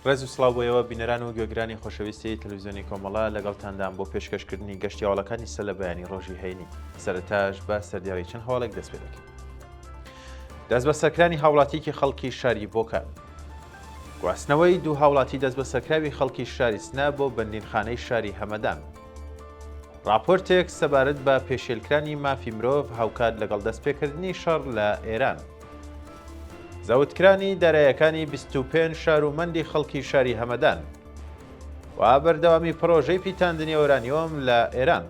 ڕێز و سڵاو بۆ ئێوە بینەران و گوێگرانی خۆشەویستی تەلویزیۆنی کۆمەڵە لەگەڵتاندام بۆ پێشکەشکردنی گەشتی هەواڵەکانی سەر لە بەیانی ڕۆژی هەینی سەرتاش بە سەردیاوی چەند هەواڵێک دەست پێ دەکەین. دەستبەسەرکرانی هاوڵاتیکی خەڵکی شاری بۆکان. گواستنەوەی دوو هاوڵاتی دەستبەسەرکراوی خەڵکی شاری سنە بۆ بەندینخانەی شاری هەمەدان. راپۆرتێک سەبارەت بە پێشێلکرانی مافی مرۆڤ هاوکات لەگەڵ دەستپێکردنی شەڕ لە ئێران. زەوتکرانی دارایەکانی 25 شار و مەندی خەڵکی شاری هەمەدان و بەردەوامی پڕۆژەی پیتاندنی ئۆرانیۆم لە ئێران.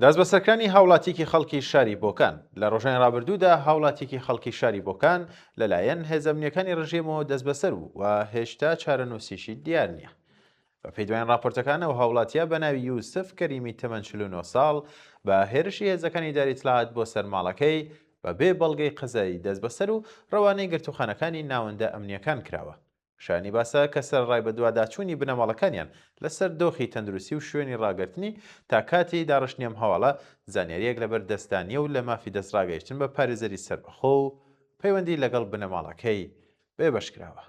دەستبەسەرکرانی هاوڵاتیکی خەڵکی شاری بۆکان لە ڕۆژانی ڕابردوودا هاوڵاتیکی خەڵکی شاری بۆکان لەلایەن هێزەمنیەکانی ڕژێمەوە دەستبەسەر بوو و هێشتا چارەنووسیشی دیار نییە بەپێی دوایین ڕاپۆرتەکان، ئەو هاوڵاتییە بە ناوی یوسف کەریمی تەمەن چل و نۆ ساڵ، بە هێرشی هێزەکانی ئیدارەی ئیتلاعات بۆ سەر ماڵەکەی، بەبێ بەڵگەی قەزایی دەستبەسەر و ڕەوانەی گرتووخانەکانی ناوەندە ئەمنییەکان کراوە. شایانی باسە کە سەرەڕای بەدواداچوونی بنەماڵەکانیان لەسەر دۆخی تەندروستی و شوێنی ڕاگرتنی، تا کاتی داڕشتنی ئەم هەواڵە زانیارییەک لەبەر دەستدا نییە و لە مافی دەستڕاگەیشتن بە پارێزەری سەربەخۆ و پەیوەندی لەگەڵ بنەماڵەکەی بێبەش کراوە.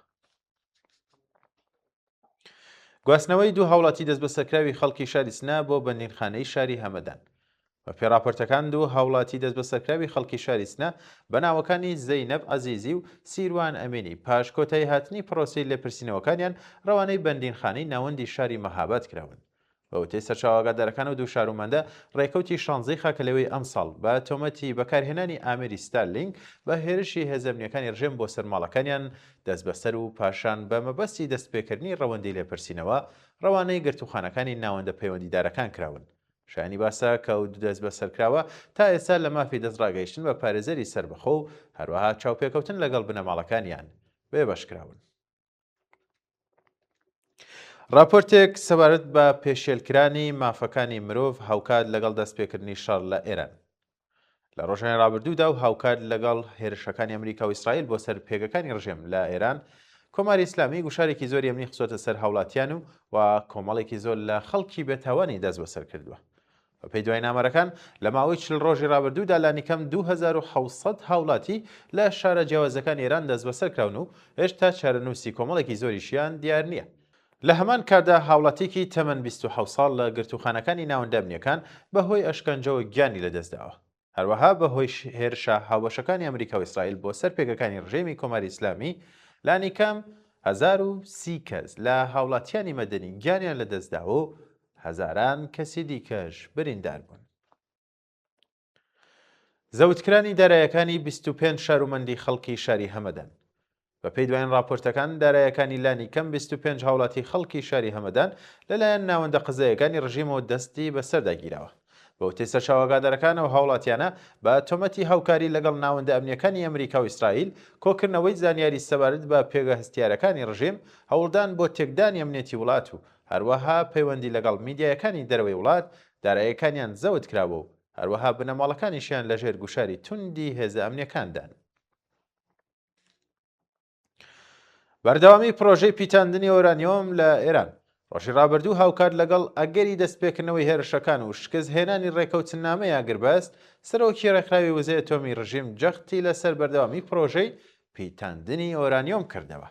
گواستنەوەی دوو هاوڵاتی دەست بە سەرکراوی خەڵکی شاری سنە بۆ بەندینخانەی شاری هەمەدان بە پێڕاپەرتەکان دوو هاوڵاتی دەست بە سەرکراوی خەڵکی شاری سنە بە ناوەکانی زەینەب عزیزی و سیروان ئەمینی پاش کۆتایی هاتنی پرۆسی لێپرسینەوەکانیان ڕەوانەی بەندینخانەی ناوەندی شاری مەهاباد کراون بە وتەی سەرچاوە ئاگادارەکان ئەو دوو شارومەندە ڕێکەوتی شانزەی خاکەلەوێی ئەمساڵ بە تۆمەتی بەکارهێنانی ئامێری ستارلینک بە هێرشی هێزە ئەمنییەکانی ڕژێم بۆ سەر ماڵەکانیان دەستبەسەر و پاشان بە مەبەستی دەستپێکردنی ڕەوەندی لێپرسینەوە ڕەوانەی گرتووخانەکانی ناوەندە پەیوەندیدارەکان کراون. شایانی باسە کە ئەو دوو دەستبەسەرکراوە تا ئێستا لە مافی دەستڕاگەیشتن بە پارێزەری سەربەخۆ و هەروەها چاوپێکەوتن لەگەڵ بنەماڵەکانیان بێبەش کراون. راپۆرتێک سەبارەت بە پێشێلکرانی مافەکانی مرۆڤ هاوکات لەگەڵ دەستپێکردنی شەڕ لە ئێران لە ڕۆژانی رابردوودا و هاوکات لەگەڵ هێرشەکانی ئەمریکا و ئیسرائیل بۆ سەر پێگەکانی ڕژێم لە ئێران کۆماری ئیسلامی گوشارێکی زۆر ئەمنی خسۆتە سەر هاوڵاتیان و و کۆمەڵێکی زۆر لە خەڵکی بێتاوانی دەست بەسەر کردووە بەپێی دوایینامەرەکان، لە ماوەی چل ڕۆژی ڕابردوودا لانیکەم دوو هەزار و حەوت سەد هاوڵاتی لە شارە جیاوازەکانی ئێران دەستبەسەر کراون و هێشتا چارەنووسی کۆمەڵێکی زۆریشیان دیار نییە. لە هەمان کاتدا هاوڵاتییەکی تەمەن بیست و حەوت ساڵ لە گرتووخانەکانی ناوەندە ئەمنییەکان بەهۆی ئەشکەنجەوە گیانی لەدەستداوە. هەروەها بەهۆی هێرشە هاوبەشەکانی ئەمریکا و ئیسرائیل بۆ سەر پێگەکانی ڕژێمی کۆماری ئیسلامی لانیکەم 1030 کەس لە هاوڵاتیانی مەدەنی گیانیان لەدەستداوە و هەزاران کەسی دیکەش بریندار بوون. زەوتکرانی دارایەکانی 25 شارومەندی خەڵکی شاری هەمەدەن بەپێی دوایین ڕاپۆرتەکان، دارایەکانی لانی کەم بیست و پێنج هاوڵاتی خەڵکی شاری هەمەدان لەلایەن ناوەندە قەزاییەکانی ڕژیمەوە دەستی بەسەردا گیراوە. بەوتەی سەرچاوە ئاگادارەکان، ئەو هاوڵاتیانە بە تۆمەتی هاوکاری لەگەڵ ناوەندە ئەمنییەکانی ئەمریکا و ئیسرائیل، کۆکردنەوەی زانیاری سەبارەت بە پێگە هەستیارەکانی ڕژیم، هەوڵدان بۆ تێکدانی ئەمنیەتی وڵات و هەروەها پەیوەندی لەگەڵ میدیایەکانی دەرەوەی وڵات، دارایەکانیان زەوت کراوە و هەروەها بنەماڵەکانیشیان لەژێر گوشاری توندی هێزە ئەمنییەکاندان. بەردەوامی پرۆژەی پیتاندنی ئۆرانیۆم لە ئێران ڕۆژی ڕابردوو هاوکات لەگەڵ ئەگەری دەستپێکردنەوەی هێرشەکان و شکست هێنانی ڕێکەوتنامەی ئاگربەست سەرۆکی ڕێکخراوی وزەیە تۆمی ڕژیم جەختی لەسەر بەردەوامی پرۆژەی پیتاندنی ئۆرانیۆم کردەوە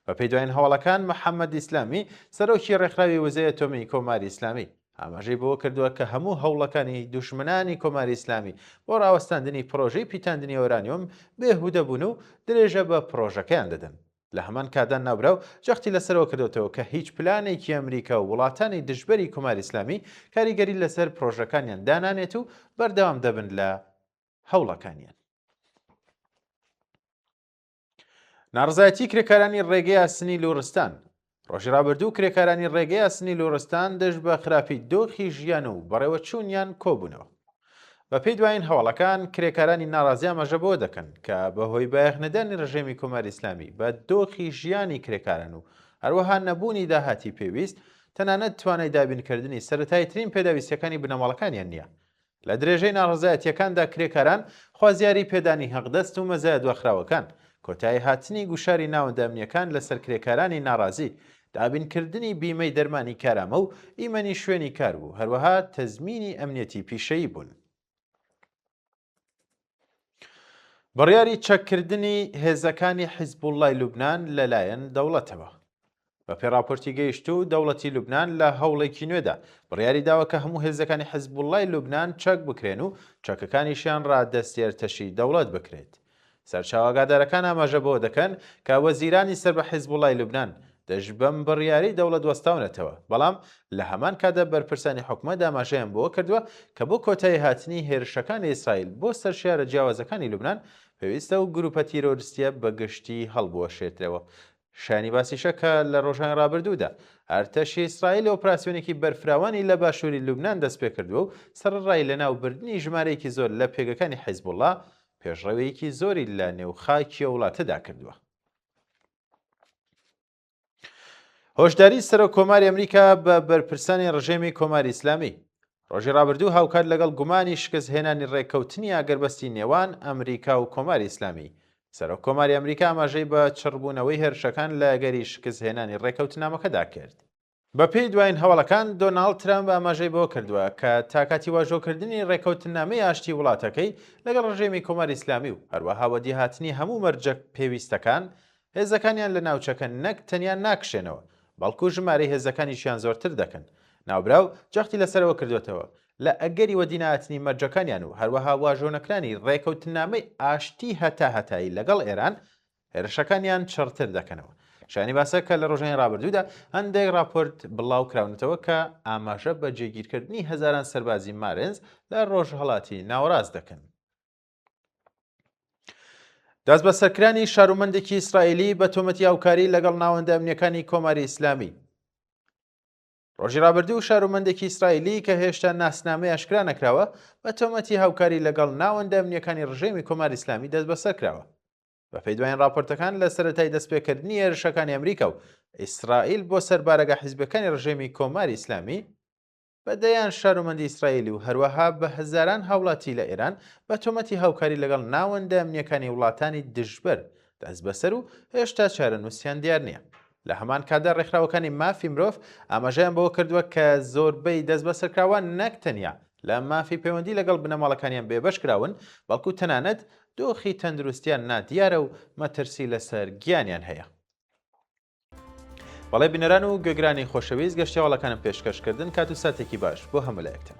بە پێی دوایین هەواڵەکان محەممەد ئیسلامی سەرۆکی ڕێکخراوی وزەیە تۆمی کۆماری ئیسلامی ئاماژەی بەوە کردووە کە هەموو هەوڵەکانی دوژمنانی کۆماری ئیسلامی بۆ ڕاوەستاندنی پڕۆژەی پیتاندنی ئۆرانیۆم بێ هودە بوون و درێژە بە پڕۆژەکەیان دەدەن. لە هەمان کاتدا ناوبراو جەختی لەسەرەوە کردۆتەوە کە هیچ پلانێکی ئەمریکا و وڵاتانی دژبەری کۆماری ئیسلامی کاریگەری لەسەر پڕۆژەکانیان دانانێت و بەردەوام دەبن لە هەوڵەکانیان. ناڕزایەتی کرێکارانی ڕێگەی ئاسنی لۆرستان ڕۆژی رابرردوو کرێکارانی ڕێگەی ئاسنی لۆرستان دەش بە خراپی دۆخی ژیان و بەڕێوە چوونیان کۆبوونەوە بە پێی دوایین هەواڵەکان کرێکارانی ناڕازیان مەژە بۆ دەکەن کە بەهۆی بایەخنەدانی ڕژێمی کۆمار ئیسلامی بە دۆخی ژیانی کرێکاران و هەروەها نەبوونی داهاتی پێویست تەنانەت توانای دابینکردنی سەتای ترین پێداویستەکانی بنەماڵەکانیان نییە لە درێژەی ناڕەزایەتییەکاندا کرێکاران خوازیاری پێدانی هەقدەست و مەزایە دواخراوەکان، کۆتایی هاتنی گوشاری ناوەندە ئەمنییەکان لەسەر کرێکارانی ناڕازی، دابینکردنی بیمەی دەرمانی کارامە و ئیمەنی شوێنی کار بوو، هەروەها تەزمینی ئەمنیەتی پیشەیی بوون. بڕیاری چەککردنی هێزەکانی حیزبوڵای لوبناان لەلایەن دەوڵەتەوە بە پێ راپۆرتی گەیشت و دەوڵەتی لوبناان لە هەوڵێکی نوێدا بڕیاری داوە کە هەموو هێزەکانی حیزبوڵای لوبناان چەک بکرێن و چەکەکانیشیان ڕادەستێر تەشی دەوڵەت بکرێت سەرچاوەگادارەکان ئاماژە بەوە دەکەن کە وەزیرانی سەر بە حیزبوڵای لوبناان دژ بەم بڕیارەی دەوڵەت وەستاونەتەوە، بەڵام لە هەمان کاتدا بەرپرسانی حکومەت ئاماژەیان بەوە کردووە کە بۆ کۆتایی هاتنی هێرشەکانی ئیسرائیل بۆ سەر شارە جیاوازەکانی لوبنان، پێویستە ئەو گروپە تیرۆرستییە بە گشتی هەڵبوەشێترەوە. شایانی باسیشە کە لە ڕۆژانی ڕابردوودا ئەرتەشی ئیسرائیل ئۆپراسیۆنێکی بەرفراوانی لە باشووری لوبنان دەستپێکردووە و سەرەڕای لەناوبردنی ژمارەیەکی زۆر لە پێگەکانی حیزبوڵڵا، پێشڕەوییەکی زۆری لە نێو خاکی ئەو وڵاتەدا کردووە. هۆشداری سەرۆک کۆماری ئەمریکا بە بەرپرسانی ڕژێمی کۆماری ئیسلامی ڕۆژی ڕابردوو هاوکات لەگەڵ گومانی شکست هێنانی ڕێککەوتنی ئاگەربەستی نێوان ئەمریکا و کۆماری ئیسلامی سەرۆک کۆماری ئەمریکا ئاماژەی بە چڕبوونەوەی هێرشەکان لە گەری شکست هێنانی ڕێککەوتنامەکەدا کرد بەپێی دواین هەواڵەکان، دۆناڵد ترەمپ ئاماژەی بەوە کردووە کە تا کاتی واژۆکردنی ڕێککەوتننامەی ئاشتی وڵاتەکەی لەگەڵ ڕژێمی کۆماری ئیسلامی و هەروەها وەدیهاتنی هەموو مەرجە پێویستەکان، هێزەکانیان لە ناوچەکە نەک تەنیا ناکشێنەوە، بەڵکو ژمارەی هێزەکانیشیان زۆرتر دەکەن. ناوبراو جەختی لەسەر ئەوە کردووەتەوە، لە ئەگەری وەدینەهاتنی مەرجەکانیان و هەروەها واژۆنەکرانی ڕێککەوتننامەی ئاشتی هەتاهەتایی لەگەڵ ئێران، هێرشەکانیان چڕتر دەکەنەوە. شایانی باسە کە لە ڕۆژانی ڕابردوودا هەندێک ڕاپۆرت بڵاو کراونەتەوە کە ئاماژە بە جێگیرکردنی هەزاران سەربازی مارنز لە ڕۆژهەڵاتی ناوەڕاست دەکەن. دەست بە سەرکرانی شارومەندێکی ئیسرائیلی بە تۆمەتی هاوکاری لەگەڵ ناوەندە ئەمنیەکانی کۆماری ئیسلامی ڕۆژی رابردوو و شارومەندێکی ئیسرائیلی کە هێشتا ناسنامەی ئەشکرا نەکراوە بە تۆمەتی هاوکاری لەگەڵ ناوەندە ئەمنیەکانی ڕژێمی کۆماری ئیسلامی دەست بەسەر کراوە بەپێی دوایین راپۆرتەکان لە سەرەتای دەستپێکردنی هێرشەکانی ئەمریکا و ئیسرائیل بۆ سەر بارەگە حیزبەکانی ڕژێمی کۆماری ئیسلامی بە دەیان شارومەندی ئیسرائیلی و هەروەها بە هەزاران هاوڵاتی لە ئێران بە تۆمەتی هاوکاری لەگەڵ ناوەندە ئەمنیەکانی وڵاتانی دژبەر دەست بەسەر و هێشتا چارەنووسیان دیار نییە لە هەمان کاتدا ڕێکخراوەکانی مافی مرۆڤ ئاماژەیان بەوە کردووە کە زۆربەی دەستبەسەرکراوان نەک تەنیا لە مافی پەیوەندی لەگەڵ بنەماڵەکانیان بێبەش کراون، بەڵکو تەنانەت دۆخی تەندروستیان نادیارە و مەترسی لەسەر گیانیان هەیە. بەڵێ بینەران و گوێگرانی خۆشەویست گەشتیاواڵەکانم پێشکەشکردن کات و ساتێکی باش بۆ هەموولایەکتان.